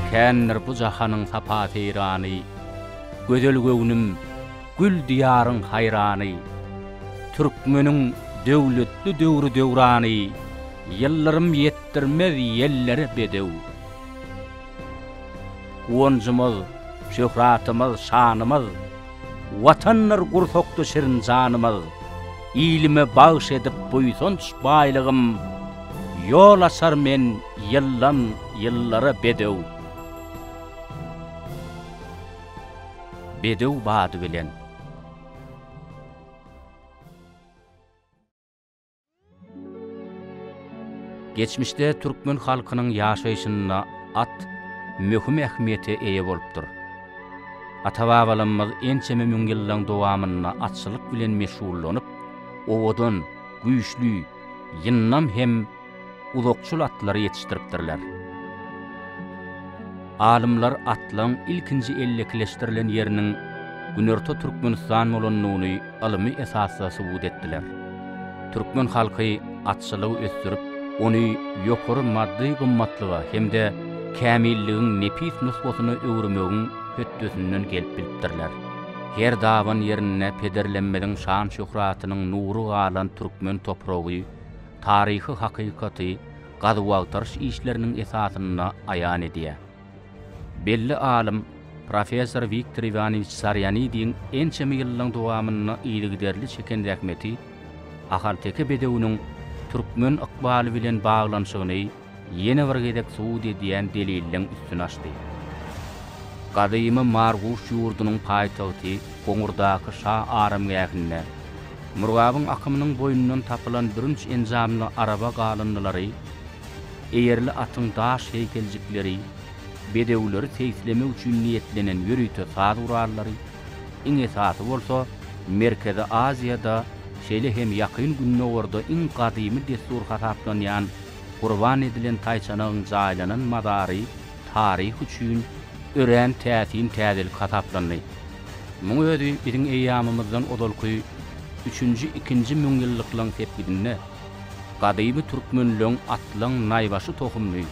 Kändir bu jahanyň sapa-seýrany, Gözel göwnüm, gül diýaryň haýrany. Türkmeniň döwletli döwri-döwrany, Ýyldyrym ýetdirmez ýellere bedew. Guwanjymyz, şöhratymyz, şanymyz, Watandyr gursakda şirin janymyz. Ilime bagyş edip buýsanç baýlygym, Ýol açar men ýyldan ýyllara bedew. Bedew bady bilen. Geçmişde türkmen halkynyň ýaşaýşynda at möhüm ähmiýete eýe bolupdyr. Ata-babalarymyz ençeme müň ýyllaryň dowamynda atçylyk bilen meşgullanyp, owadan, güýçli, ýyndam hem uzakçyl atlary ýetişdiripdirler. Alymlar atlaryň ilkinji ellekileşdirilen ýeriniň Günorta Türkmenistan bolandygyny ylmy esasda subut etdiler. Türkmen halky atçylygy ösdürip, ony ýokary maddy gymmatlyga hem-de kämilligiň nepis nusgasyna öwürmegiň hötdesinden gelip bilipdirler. Her daban ýerinde pederlerimiziň şan-şöhratynyň nury galan türkmen topragy taryhy hakykaty gazuw-agtaryş işleriniň esasynda aýan edýär. Belli alym, professor Wiktor Iwanowiç Sarýanidiň ençeme ýyllaryň dowamynda yzygiderli çeken zähmeti ahalteke bedewiniň türkmen ykbaly bilen baglanyşygyny Ýene bir gezek subut edýän delilleň üstüni açdy. Gadymy Marguş ýurdunyň paýtagty Goňurdaky şa aramgähinde Murgabyň akymynyň boýundan tapylan bürünç enjamly araba galyndylary, eýerli atyň daş heýkeljikleri, bedewleri seýislemek üçin niýetlenen ýörite saz gurallary, iň esasy bolsa, Merkezi Aziýada, şeýle hem Ýakyn Gündogarda iň gadymy dessur hasaplanýan gurban edilen taýçanagyň jaýlanan mazary taryh üçin örän täsin täzelik hasaplandy. Muň özi biziň eýýamymyzdan ozalky üçünji, ikinji müňýyllyklaryň sepgidinde gadymy türkmenleň atlaň naýbaşy tohumyny,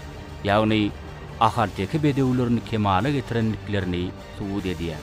ýagny ahalteke bedewlerini kemala getirendiklerini subut edýär.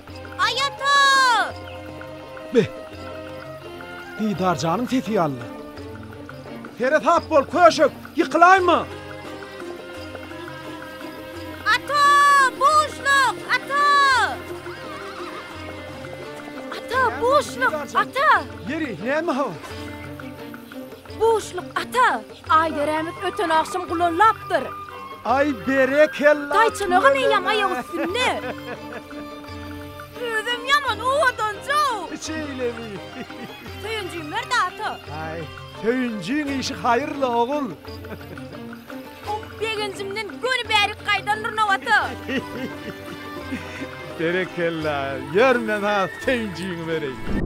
Aý ata! Be! Didarjanyň sesi ýalydy. Seresap bol, köşek, ýykylaýma! Ata! Buşluk! Ata! Ata, buşluk! Ata! Ýeri, näme habar? Buşluk, ata! Aýderemiz öten agşam gulallapdyr. Aý berekella. Taýçanagam eýýäm aýak üstünde. Özem ýaman owadanjow. Şeýlemi? Söýünjim ber data. Aý, Söýünjiň işi haýyrly ogul. Oh, begenjimden göni bärik gaýdan Rnowata. Berekella. Ýör men-ha Söýünjiňi bereýin.